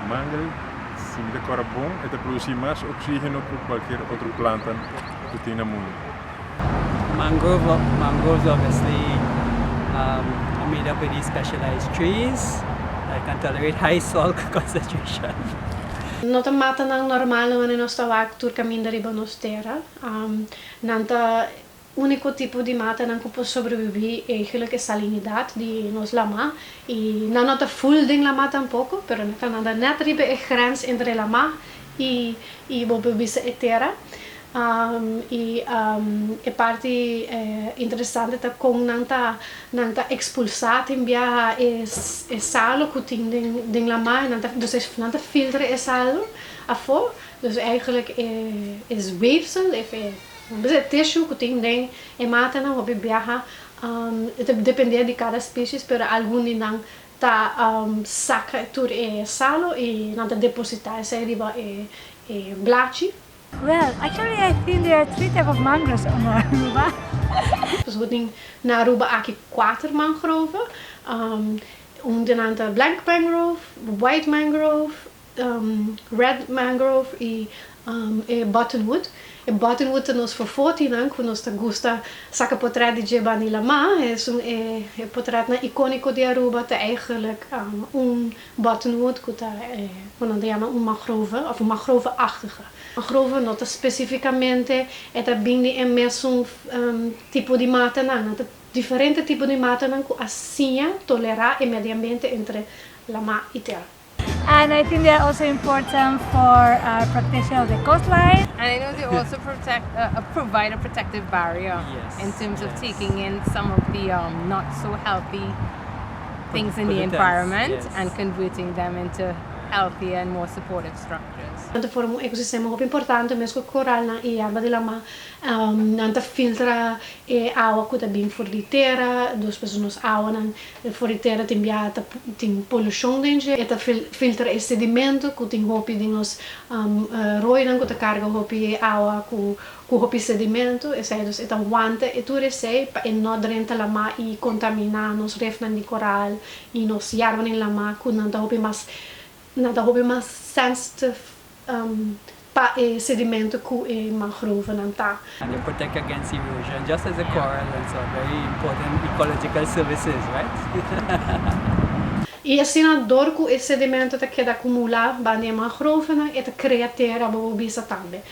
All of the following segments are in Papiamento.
Mangrove sin ta kora bon e ta produsí mas oksígeno ku kualker otro planta ku tin na mundu. Mangrove mangroves lo mester a mida pa e di specialized trees that can tolerate high soil concentration. No ta mata nan normal na manera nos ta wak tur caminda riba nos tera. Nan ta unico tipo di mata nan cu por sobrevivi e gelica salinidad di nos lama y nan no ta full den lama tampoco pero nan ta nada net riba e grens entre lama y bo por bisa e tera. I e parti interesante ta kon nan ta nan ta expulsa tin biaha e salo cu tin den lamai nan ta dus nan ta filtra e salo afo dus eigenlijk e weefsel of e nan bisa e tissue cu tin den e matanan hopi biaha ta depende di cada species pero algun di nan ta saca tur e salo i nan ta deposita esai riba e blachi. Well, actually I think there are three type of mangroves on Aruba. Pues bo tin na Aruba aki kuater mangrove. Un di nan ta blank mangrove, white mangrove, red mangrove i e buttonwood. E buttonwood ta nos fofotinan ku nos ta gusta saka potrèt di dje bani laman. Esun e potrètnan ikóniko di Aruba. Ta eigenlijk un Bottonwood ku ta e ku nan ta yama un mangrove òf un mangrove-achtige. Mangrove no ta spesifikamente e ta bin di e mesun tipo di matanan. Nan ta diferente tipo di matanan ku a siña tolerá e mediambiente entre lamá i tera. And I think they are also important for protection of the coastline. And I know they also protect provide a protective barrier in terms of taking in some of the not so healthy. things in di environment and converting them into healthier and more supportive structures. Nan ta forma un ekosistema hopi importante mes ku koralnan i yerba di lama. Nan ta filtra e awa ku ta bin for di tera, dos pasobra nos awanan for di tera tin biaha ta tin polushon den dje. E ta filtra e sedimento ku tin hopi di nos roinan ku ta karga hopi awa ku Ku hopi sedimentu, esei dus e ta wanta e tur esei pa e no drenta lamá i kontaminá nos refnan di koral i nos yárbanan lamá ku nan ta hopi mas nan ta hopi mas sensitive pa e sedimentu ku e mangrovenan ta. And e protect against erosion just as e koral and so very important ecological services right. I asina dor ku e sedimentu ta keda akumulá banda e mangrovenan e ta krea tera bobo bisa tambe.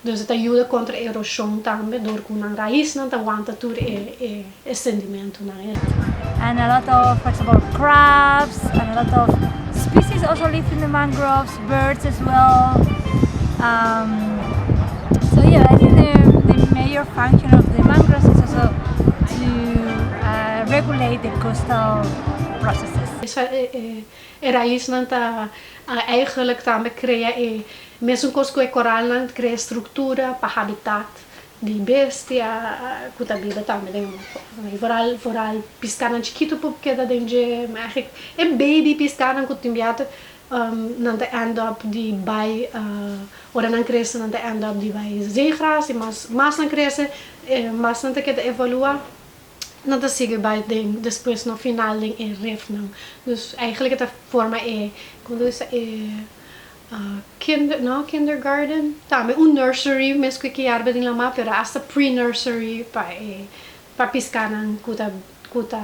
Nos a ta yuda kontra e eroshon tambe dor ku nan raisnan ta wanta tur e sendimentunan ei. And a lot of for example crabs and a lot of species also live in the mangroves, birds as well um so yeah I think the major function of the mangroves is also to regulate the coastal processes. E raisnan ta eigenlijk tambe krea Mesunkoos ku e koralnan ta krea struktura pa habitat di bestia ku ta biba tambe den e mar foor. Vooral vooral piskanan chikitu por keda den dje, ma eigenlijk e baby piskanan ku tin biaha nan ta end up di bai ora nan krese nan ta end up di bai zeegras i mas mas nan krese e mas nan ta keda evolua nan ta sigui bai den despues no final den e refnan. Dus eigenlijk e ta forma e kundisa e. kinder no kindergarten tambe un nursery mes ku e kiarba den lama pero hasta pre nursery pa e pa piska nan ku ta ku ta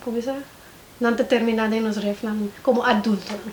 como es sa nan ta termina den nos ref nan como adultonan.